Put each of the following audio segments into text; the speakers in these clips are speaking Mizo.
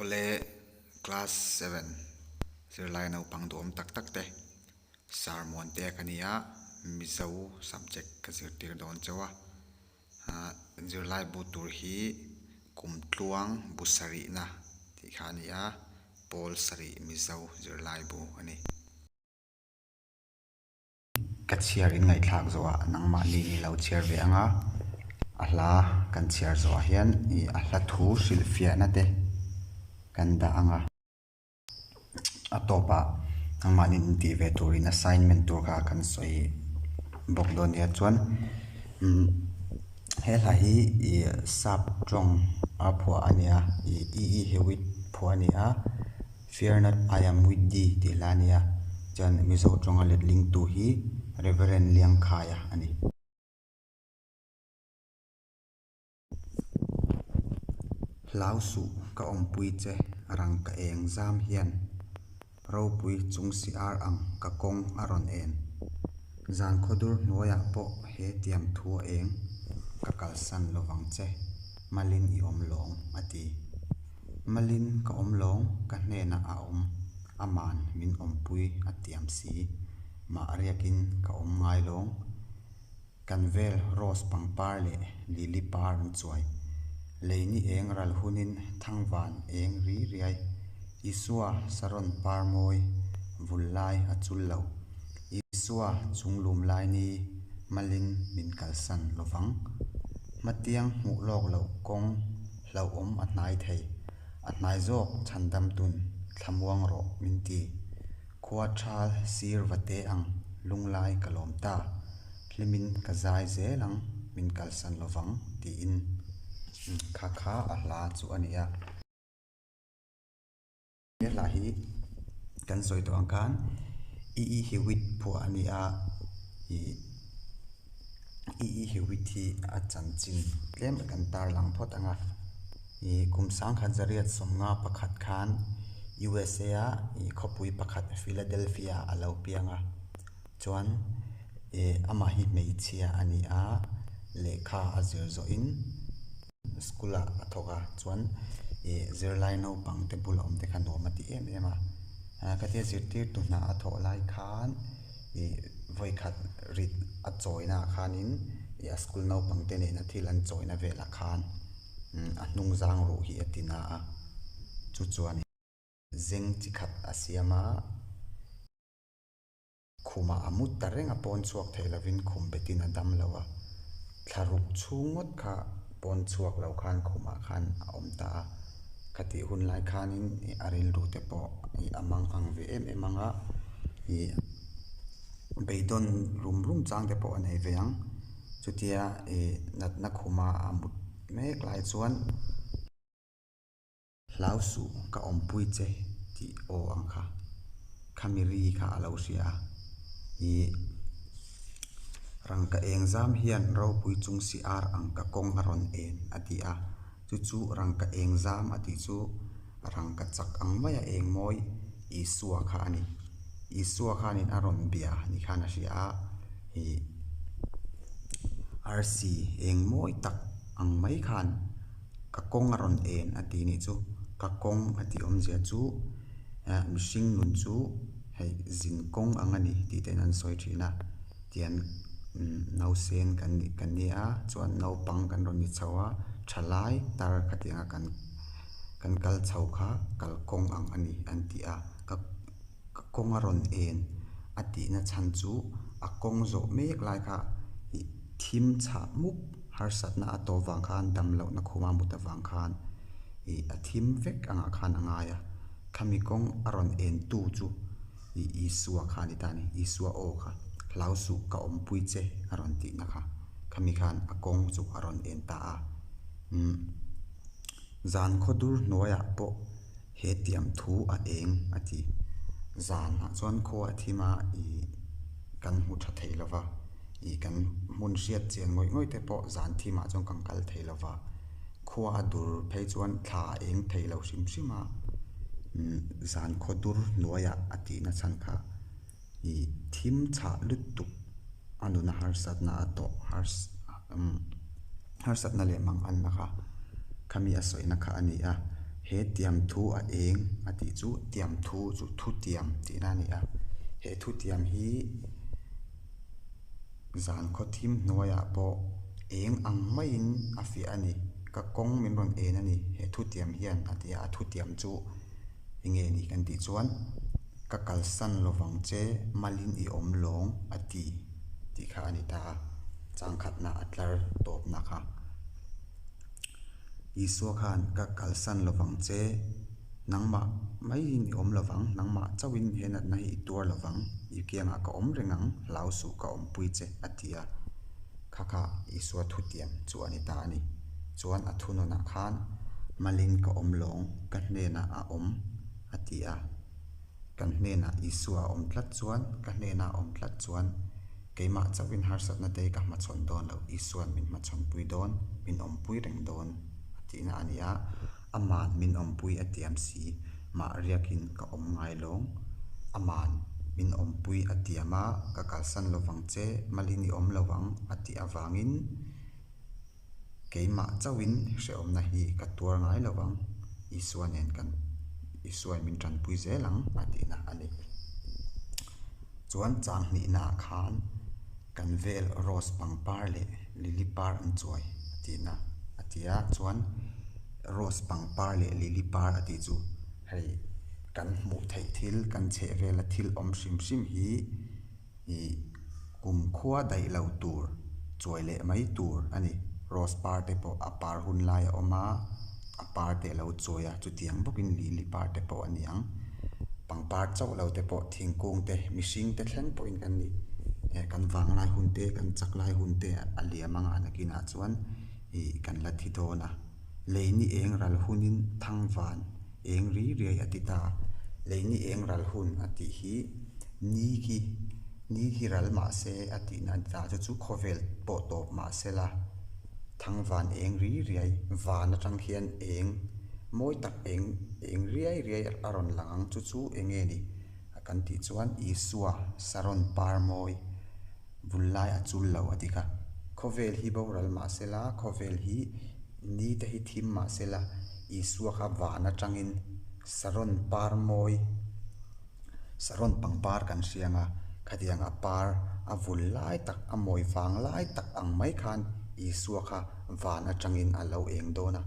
Awle class seven zirlai naupang duhawm tak tak te Sarmuan te ka ni a Mizo subject ka zirtir dawn chauh a ah zirlai bu tur hi kum tluang bu sarih na tih kha a ni a Paul sarih Mizo zirlai bu a ni. ka chhiar in ngaihthlak zawh ah nangmah ni in lo chhiar ve ang a, a hla kan chhiar zawh ah hian ih a hla thu hrilh fiah na te kan dah ang a, a tawp ah nangmah ni in tih ve tur in assignment tur kha kan sawi bawk dawn nia chuan umm he hla hi ih sap tawng a phuah a nia ih i i hiau i phuah a ni a. Fear not, I am with thee tih la a ni a, chuan Mizo tawnga lethlingtu hi Rev. Liangkhaia a ni. Hlausuh ka awmpui che rang ka eng zam hian, ropui chung si ar ang ka kawng a rawn en. Zan khawdur hnuaiah pawh he tiam thu a eng ka kalsan lovang che, Malin i awm lawng, a ti. Malin ka awm lawng ka hnenah a awm ama'n min awmpui a tiam si. Mah riakin ka awm ngai lawng. Kan vel Rose pangpar leh Lily par an chuai. Lei ni eng ral hunin thangvan eng ri riai. Isua Saron par mawi vul lai a chul lo. Isua chunglum lai ni Malin min kalsan lovang. Hmatiang hmuh lawk loh kawng. Hlauhawm a hnai thei, a hnai zawk chhan damtun thlamuang rawh min ti. Khua thal sir va te ang lunglai ka lawm ta, hlimin ka zai zel ang min kalsan lovang tiin khakha a hla chu a ni a. Hla hi kan sawi tawh ang khan i i hi wheat phuah a ni a, i i i hi wheat hi a chanchin tlem a kan tar lang phawt ang a. I kum sangkhat zariat sawmnga pakhat khan usa a i khawpui pakhat Philadelphia a lo piang a, chuan e amah hi hmeichhia a ni a, lehkha a zir zawhin. School-a a thawk a chuan ih zirlai naupangte bula awmte kha nuam a ti em em a, a ka ti a zirtirtu hna a thawh lai khan ih vawikhat rit a chawina khanin ih a school naupangte nena thil an chawina velah khan umm a hnung zang ruh hi a ti na a, chu chuan zeng chi khat a siam a. Khumah a mut ta reng a pawn chhuak theih lovin khum betin a dam lo a, thla ruk chhung ngawt kha pawn chhuak lo khan khumah khan a awm ta a, ka tih hun lai khanin ih a rilru te pawh ih a mang ang ve em em ang a, ih beidawn rum rum chang te pawh a nei ve ang, chutia ih natna khumah a mut mek lai chuan. Hlau suh ka awmpui che tih aw ang kha. Khami ri kha a lo hria a, ih. Rangka eng zam hian ropui chung si ar ang ka kawng a rawn en a ti a. Chu chu rangka eng zam a tih chu rangka chak ang mai a eng mawi Isua kha a ni. Isua khanin a rawn bia ni khan a hria a, ih. Arsi eng mawi tak ang mai khan. Ka kawng a rawn en a tih nih chu ka kawng a tih awmzia chu eh mihring nun chu hei zin kawng ang a ni tih te in an sawi thin a tian nausen kan nih kan ni a chuan naupang kan rawn ni chho a tha lai tar khatianga kan kan kal chho kha kal kawng ang a ni an ti a ka. Ka kawng a rawn en, a tihna chhan chu a kawng zawh mek lai kha i thim chhah mup, harsatna a tawp vang khan dam lohna khuma mut avang khan i a thim vek angah khan a ngai a. Thami kawng a rawn entu chu i Isua kha a ni ta ni, Isua aw kha hlau suh ka awmpui che a rawn tihna kha khami khan a kawng chu a rawn en ta a. Umm zan khaw dur hnuaiah pawh He tiam thu a eng a ti. Zan ah chuan khaw a thim a ih kan hmu tha thei lova ih kan hmun hriat chian ngawih ngawih te pawh zan thim ah chuan kan kal thei lova khua a dur phei chuan thla a eng thei lo hrim hrim a zan khaw dur hnuai ah a tihna chhan kha i thim chhah lutuk a nuna harsatna a tawh harsatna leh mang anna kha khami a sawihna kha a ni a he tiam thu a eng a tih chu tiam thu chu thu tiam tihna a ni a he thu tiam hi zan khaw thim hnuaiah pawh eng ang maiin a fiah a ni ka kawng min rawn en a ni he thu tiam hian a ti a a thu tiam chu-- Enge ni kan tih chuan, Ka kalsan lovang che Malin i awm lawng a ti tih kha a ni ta a, chang khatna a tlar tawpna kha. Isua khan ka kalsan lovang che, nangmah maiin i awm lovang, nangmah chauhin he natna hi i tuar lovang, i kiangah ka awm reng ang, hlausuh ka awmpui che a ti a. Kha kha Isua thutiang chu a ni ta a ni. Chuan a thunun ah khan, Malin ka awm lawng, ka hnenah a awm, a ti a. Kan hnenah Isua a awm tlat chuan, ka hnenah a awm tlat chuan, keimah chauhin harsatna te hi ka hmachhawn dawn lo, Isua'n min hmachhawnpui dawn, min awmpui reng dawn, a tihna a ni a. Ama'n min awmpui a tiam si, mah riakin ka awm ngai lawng. Ama'n min awmpui a tiam a, ka kalsan lovang che, Malin i awm lovang, a tih avangin keimah chauhin hrehawmna hi ka tuar ngai lo ang, Isua nen kan Isua-i min tanpui zel ang a tihna a ni. Chuan chang hnihnaah khan kan vel rose pangpar leh lily par an chuai a tihna a ti a, chuan rose pangpar leh lily par a tih chu hei kan hmuh theih thil kan chhehvela thil awm hrim hrim hi-- i kum khua daih lo tur chuai leh mai tur a ni. Rose par te pawh a par hun lai a awm a, a par te a lo chuai a, chutiang bawkin lili par te pawh a niang. Pangpar chauh lo te pawh thingkung te, mihring te thleng pawhin kan ni e, kan vang lai hun te, kan chak lai hun te a liam anga nakinah chuan i kan la thi dawn a. Lei ni eng ral hunin thangvan. Eng ri riai a ti ta. Lei ni eng ral hun a tih hi ni khi ni khi ral mah se a tihna a ni ta chu chu khawvel pawh tawp mah se la thangvan eng ri riai van atang hian eng mawi tak eng eng riai riai a rawn lang ang chu chu eng nge ni kan tih chuan Isua saron par mawi. vul lai a chul lo a ti kha. Khawvel hi boral mah se la, khawvel hi ni te hi thim mah se la, Isua kha van atangin Saron par mawi, Saron pangpar kan hriang a, khatiang a par a vul lai tak, a mawi vang lai tak ang mai khan Isua kha van atangin a lo eng dawn a.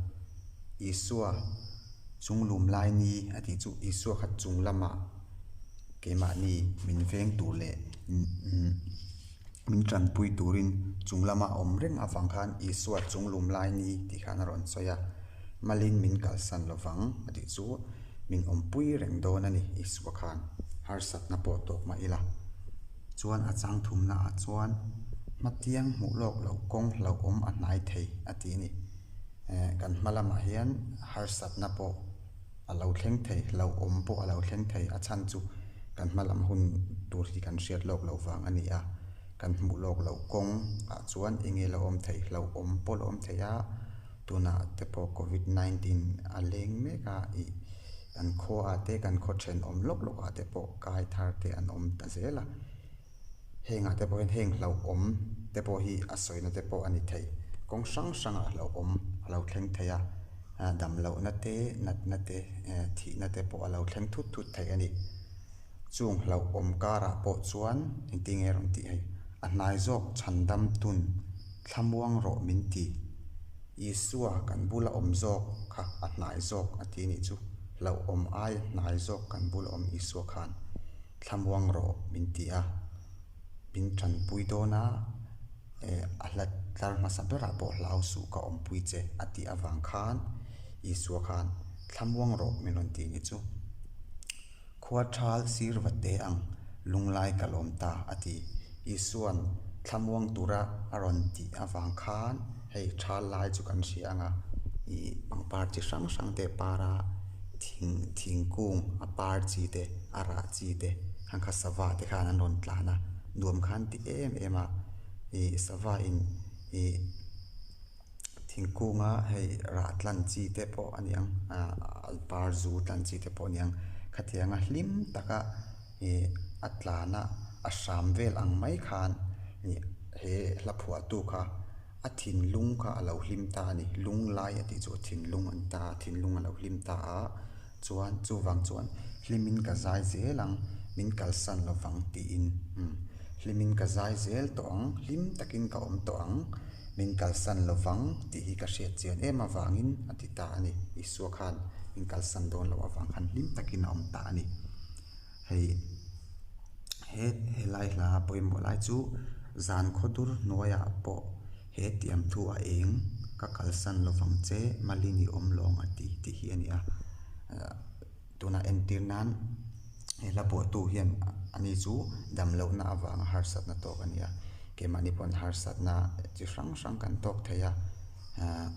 Isua, Chunglum lai ni a tih chu Isua kha chung lamah, keimahni min veng tur leh min tanpui turin chung lama awm reng avang khan Isua chunglum lai ni tih khan a rawn sawi a, Malin min kalsan lovang a tih chu min awmpui reng dawn a ni Isua khan harsatna pawh tawk mah ila. Chuan a changthumnaah chuan hmatiang hmuh lawk lo kawng hlauhawm a hnai thei a tih a ni. Kan hma lamah hian harsatna pawh a lo thleng thei hlauh awm pawh a lo thleng thei a chhan chu kan hma lam hun tur hi kan hriat lawk loh vang a ni a, kan hmuh lawk loh kawng ah chuan enge lo awm thei hlauh awm pawh lo awm thei a, tunah te pawh covid nineteen a leng mek a ih kan khua ah te kan khaw then awm lawk lawk ah te pawh kai thar te an awm ta zel a. Hengah te pawhin heng hlauhawm te pawh hi a sawina te pawh a ni thei. Kawng hrang hrangah hlauhawm a lo thleng thei a, damlohna te, natna te, thihna te pawh a lo thleng thut thut thei a ni. Chung hlauhawm karah pawh chuan engtin nge rawn tih hei, a hnai zawk chhan damtun thlamuang rawh min ti. Isua kan bula awm zawk kha a hnai zawk a ti a nih chu. Hlauhawm aia hnai zawk kan bula awm Isua khan. thlamuang rawh min ti a, min ṭanpui dawn a, eh, a hla tlar hmasa berah pawh hlau suh ka awmpui che, a tih avang khan Isua khan, Thlamuang rawh min rawn ti ni chu. Khua ṭhal sir va te ang, lunglai ka lawm ta, a ti. Isuan thlamuang tura a rawn tih avang khan. Hei chhal lai chu kan hria anga ih pangpar chi hrang hrang te para thing thingkung a par chi te a rah chi te khan kha sava te khan an rawn tlan a nuam khan ti em em a ih sava in ih thingkunga hei rah tlan chi te pawh a niang ahh par zu tlan chi te pawh a niang khatianga hlim taka-- He a tlana a hram vel ang mai khan ih he hla phuahtu kha a thinlung kha a lo hlim ta a ni. Lung lai a tih chu a thinlung a ni ta a, thinlung a lo hlim ta a chuan chuvang chuan hlimin ka zai zel ang min kalsan lovang tiin umm hlimin ka zai zel tawh ang hlim takin ka awm tawh ang min kalsan lovang tih hi ka hriat chian em avangin a ti ta a ni. Isua khan min kalsan dawn loh avang khan hlim takin a awm ta a ni. hei he helai hla a pawimawh lai chu zan khaw dur hnuaiah pawh he tiam thu a eng ka kalsan lovang che mali ni awm lawng a ti tih hi a ni a tunah entir nan he hla buaihtu hian ani chu damlohna avanga harsatna tawk a ni a kemahni pawn harsatna chi hrang hrang kan tawk thei a. Aa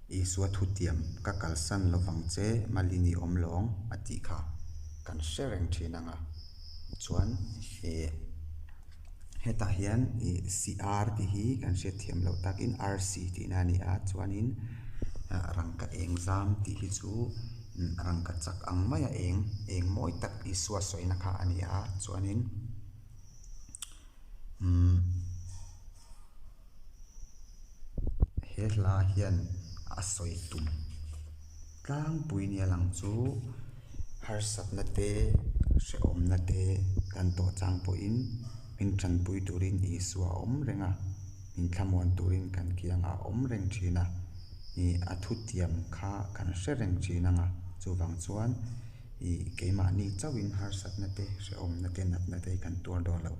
Isua thutiam ka kalsan lovang che Mali ni awm lawng a tih kha kan hre reng thin ang a, chuan ih hetah hian ih CR tih hi kan hriatthiam loh takin RC tihna a ni a chuanin ah rangka eng zam tih hi chu ih rangka chak ang mai a eng eng mawi tak Isua sawi na kha a ni a chuanin umm. he hla hian a sawi tum tlangpui nia lang chu harsat na te hrehawm na te kan tawh chang pawh in min tan pui tur in isua awm reng a min thlamuan tur in kan kiang a awm reng thin a ih a thutiam kha kan hre reng thin ang a chuvang chuan-- I keimahni chauhin harsatnate, hrehawmnate, natnate i kan tuar dawn lo.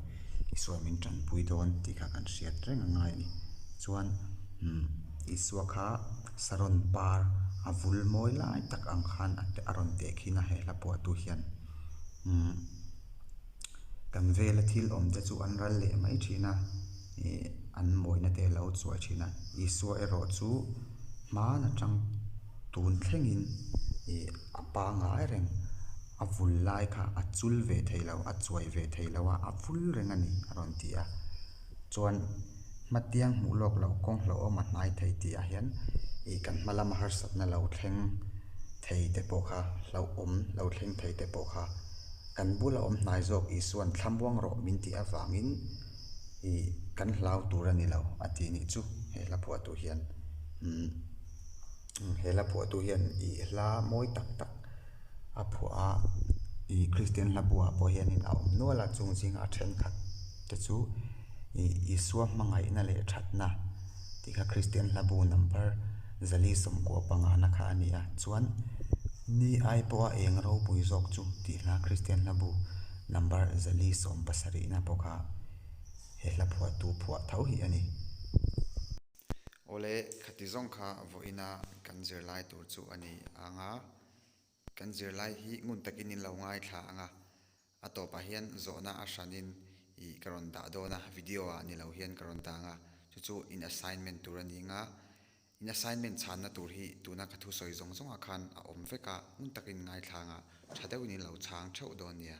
Isua min tanpui dawn tih kha kan hriat reng a ngai a ni. Chuan umm Isua kha Saron par a vul mawi lai tak ang khan a rawn tehkhin a he hla pawh atu hian umm. kan vela thil awmte chu an ral leh mai thin a ih an mawina te a lo chuai thin a Isua erawh chu hman atang tun thlengin ih a pangai reng a vul lai kha a chul ve thei lo a chuai ve thei lo a a vul reng a ni a rawn ti a chuan hmatiang hmuh lawk lo kawng hlauhawm a hnai thei tih ah hian ih kan hma lama harsatna lo thleng thei te pawh kha hlauhawm lo thleng thei te pawh kha-- Kan bula awm hnai zawk Isuan thlamuang rawh min tih avangin i kan hlau tur a ni lo a ti nih chu he hla phuahtu hian umm he hla phuahtu hian i hla mawi tak tak a phuah a i kristian hla buaah pawh hian in a awm nual a chung zingah a thenkhat Te chu i Isua hmangaihna leh thatna tih kha Kristian hlabu number zali sawmkuah pangahna kha a ni a. Chuan ni ai pawh a eng ropui zawk chu tihla Kristian hlabu number zali sawm pasarihna pawh kha he hla phuahtu phuah tho hi a ni. Awle, khati zawng kha vawiina kan zirlai tur chu a ni ang a. Kan zirlai hi ngun takin in lo ngaithla ang a. A tawpah hian zawhna a hranin ih ka rawn dah dawn a, video-ah ni lo hian ka rawn dang a, chu chu in assignment tur a ni nga. In assignment chhanna tur hi tuna ka thu sawi zawng zawngah khan a awm vek a, hmun takin ngaithlang ah tha deuhin in lo chhang theuh dawn nia.